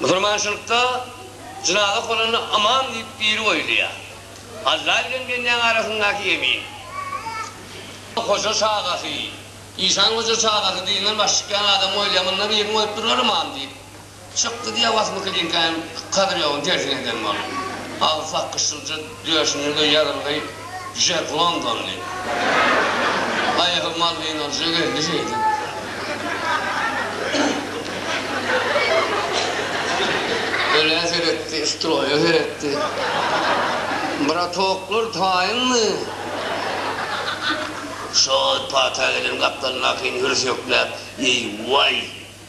Musulmançylykda jynaza okalanda ymam diýip biri goýulýar. Alla bilen bendäň arasyndaky ýemin. Hoja çagasy, işan hoja çagasy diňden baş çykýan adam goýulýar, munda birini goýup durlar ymam diýip. Çykdy diýýär Wasmykylinka hem kadyrýowyň tersine eden bolup. Agzysy akgyşylja. Döşünde ýazylgy Jack London diýip. Aýagy malwinalyja geldi şeýdip. Ölä seretdi, stroýa seretdi. Bratoklar taýynmy? Şol pata gelen gapdalyndakyny hürsükläp, Eý, waý!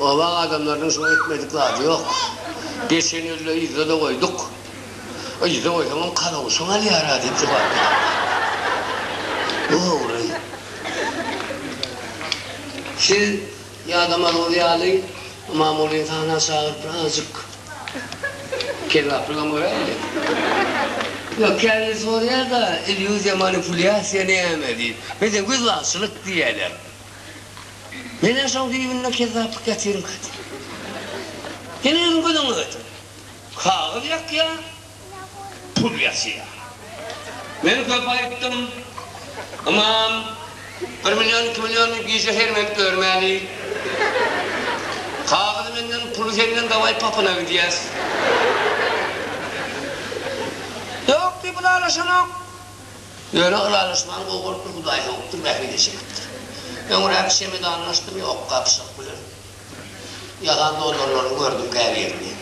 Obaň adamlarynyň şuňa etmedik zady ýok. Geçen ýylda yzda-da goýduk. Yzda goýsaňam kalawşyň alýar-a diýip jogap beripdir. Bu ogry. Siz ýadamadygyňyz ýaly, Imamulyny sahna çagyryp bir azajyk kezaplygam göräýeli. Ýok, käbiri soraýar-da, illýuziýa, manipulýasiýa näme diýip. Bizde gözbagçylyk diýýärler. Neneň şoň düýbünde kezzaplyk ýatyrinka diýip. Ýene özüň göz öňüne getir. Kagyz ýakýa, pul ýatyr. Men köp aýtdym, ymam, bir million, iki milliony gije hermenip örmäli. Kagyzy menden, puly senden dawaý papyna gidýäs. Ýok diýip ylalaşanok. Ýöne ylalaşmagyň gowy bolup bir Hudaý sowupdyr, bähbit eşegidir. Öňräk çemedanlaşdym ýok gapyşyk bilen. Ýalan dollarlaryny gördüm käbirini.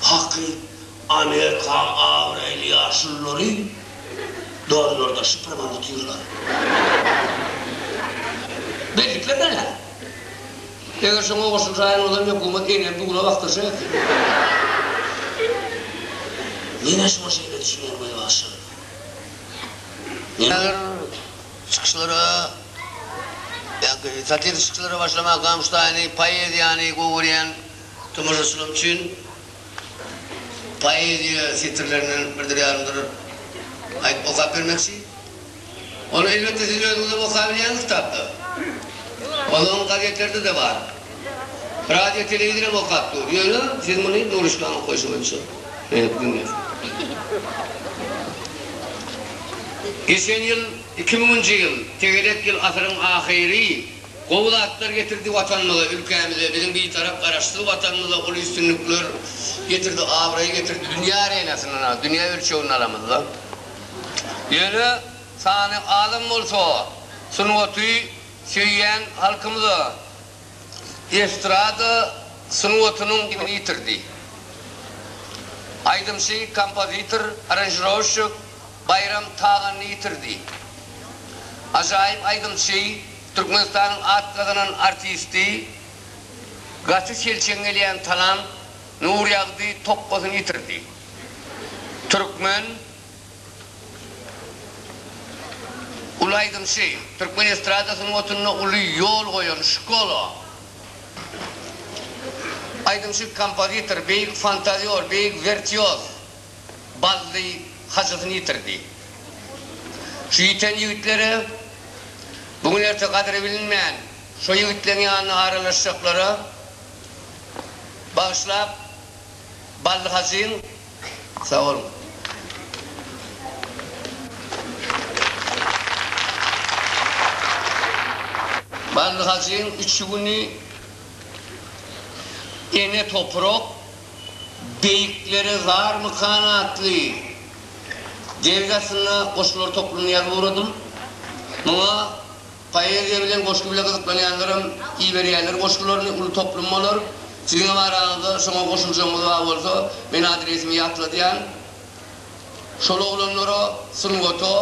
Haky, Amerikaň abraýly ýaşululary dollarda şypyrman otyrlar. Bellikler näme? Eger şoňa goşulsaýyn olam hökümet enem dula bakdyrjak eken. Menä şuňa şeýle düşünýän gözbaşym. Näzir çykyşlara, ýa-ki satiriki çykyşlara başlamak gamyştaýyny, poeziýany gowy görýän tomaşaçylarym üçin poeziýa setirlerinden birdir ýarymdyr aýdyp okap bermekçi. Ony elbetde siz özüňizem okaýbilýäňiz kitapda. Ozalňy gazetlerde-de bar. Radio-telewizorem okap dur. Ýöne siz muny duruşgana goýşy boýunça. Beýik günler. Geçen ýyl iki müňünji ýyl, tegelek ýyl asyryň ahyry gowy zatlar getirdi Watanymyza, ülkämize, biziň Bitarap Garaşsyz Watanymyza uly üstünlikler getirdi, abraý getirdi, dünýä arenasynda, dünýä ölçeginde alamyzda. Ýöne sany azam bolsa, sungaty söýýän halkymyza, estrada sungatynyň dibini ýitirdi. Aýdymçy, kompozitor, aranžirowşçik Baýram Taganyny ýitirdi. Ajaýyp aýdymçy, Türkmenistanyň at gazanan artisti, gaty selçeň gelýän talant Nurýagdy Tokgasyny ýitirdi. Türkmen. Uly aýdymçy, türkmen estrada sungatynda uly ýol goýan Şkola aýdymçy, kompozitor, beýik fantazýor, beýik wirtýoz Bally Hajysyny ýitirdi. Şu ýiten ýigitlere, bu gün-erte gadyry bilinmän, şo ýigitleň ýanyna aralaşjaklara bagyşlap, Bally Hajyň. Sag boluň. Bally Hajyň üçi güni Ene toprak beýiklere zarmykan atly ders aslynda goşgular toplumyny ýazyp ugradym. Muňa Poeziýa bilen goşgy bile gyzyklanýanlaram iberýärler goşgularyny, uly toplum bolar. Siziňem araňyzda şoňa goşuljagyňyz bar bolsa, men adresimi ýatladýan. Şol oglanlara, sungata,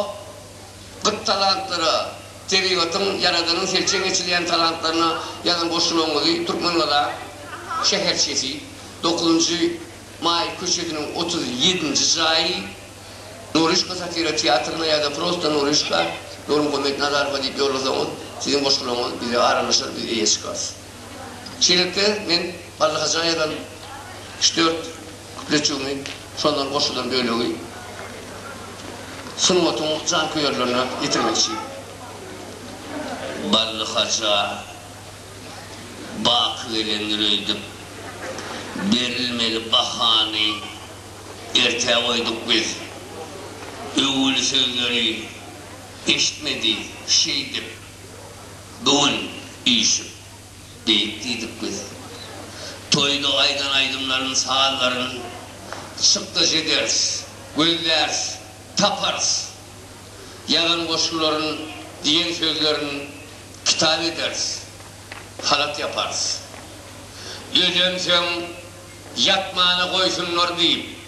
gyt talantlara, tebigatyň, Ýaradanyň selçeň eçilýän talantlaryna ýazan goşgularyňyzy Türkmengazak şäherçesi, dokuzynjy maý köçesiniň otuz ýedinji jaýy, Nuryşka satira teatryna ýa-da prosta Nuryşka, Nurmuhammet Nazarowa diýip ýollasaňyz, siziň goşgularyňyz bize aralaşar, biz eýe çykarys. Şeýlelikde, men Ballyhaja ýazan üç-dört kupletjigimi şondan goşulan bölegi sungatyň janköýerlerine ýetirmekçi. Ballyhaja baky gelendir öýdüp, berilmeli bahany. Ertä goýduk biz. Öwül sözleri eşitmedi şeýdip, Bu gün üýşüp, beýik diýdik biz. Toýda aýdan aýdymlaryn, sazlaryn Çykdaş ederis, gözläris, taparys. Ýazan goşgularyn, diýen sözlerin Kitap ederis, halat ýaparys. Özemsoň. ýatmana goýsunlar diýip,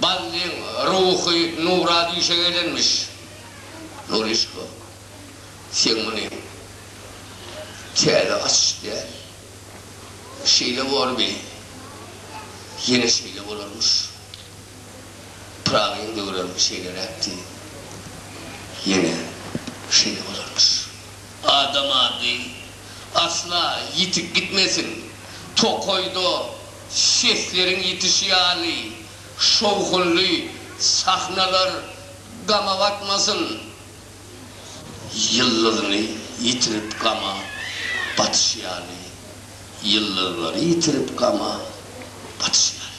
Ballyň ruhy nura düýşe gelenmiş. Nuryşka, sen muny täze açyş däl. Şeýle borby, ýene şeýle bolarmyş. Pyragyň döwrem şeýleräkdi, ýene şeýle bolarmyş. Adam ady. asla ýitip gitmesin. Tokaýda sesleriň ýitişi ýaly şowhunly sahnalar gama batmasyn. Ýyldyzyny ýitirip gama batyşy ýaly, ýyldyzlary ýitirip gama batyşy ýaly.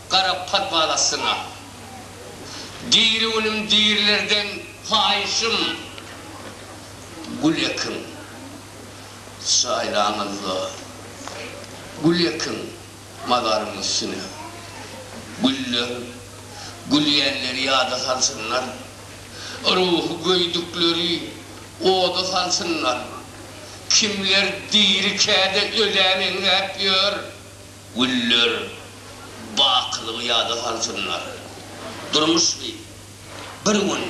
gara podwal astyna. Diri günüm dirilerden paýyşym gül ekin. Çaýlaňyzda gül ekin mazaryň üstüne. Güller gülýänleri ýada salsynlar. Ruhy göýdükleri oda salsynlar. Kimler diri käde ölä meňzäp ýör. Güller bakylygy ýada salsynlar. Durmuş gyz, bir gün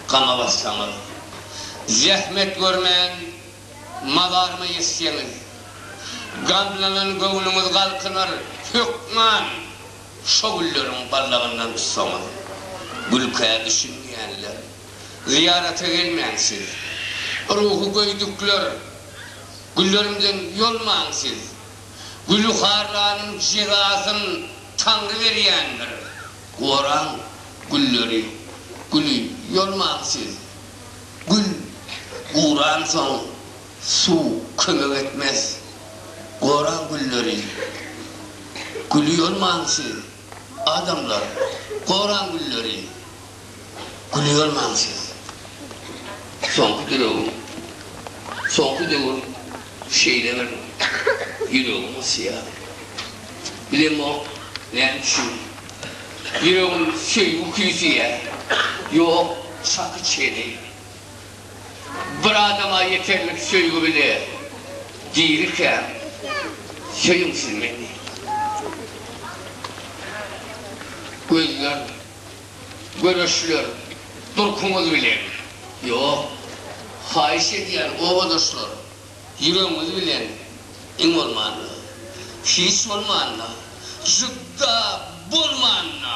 gama batsaňyz. Zähmet görmän mazaryma ýetseňiz. Gamlanan göwnüňiz galkynar, hökman şo gülleriň ballagyndan tutsaňyz. Gülkä düşünmeýänler, zyýarata gelmäň siz. Ruhy göýdükler, güllerimden ýolmaň siz. Gülüharranyň jezasyn Taňry berýändir. Goraň gülleri, güli ýolmaň siz. Gül guransoň suw kömek etmez. Goraň gülleri, güli ýolmaň siz. Adamlar, goraň gülleri. Gülýärmäň siz? Soňky döregiň. Soňky döwür şeýle bir ýüregiň ysýar. Bilemok, näme üçin? Ýüregim söýgi küýseýär. Ýok, çaky çeni. Bir adama ýeterlik söýgi bile. Dirikäm, söýüň siz meni. Gözler Göreşler, durkuňyz bilen. Ýok. Haýyş edýän, obadaşlar, ýüregiňiz bilen, iň bolmanda. Hiç bolmanda. Jübda bolmanda!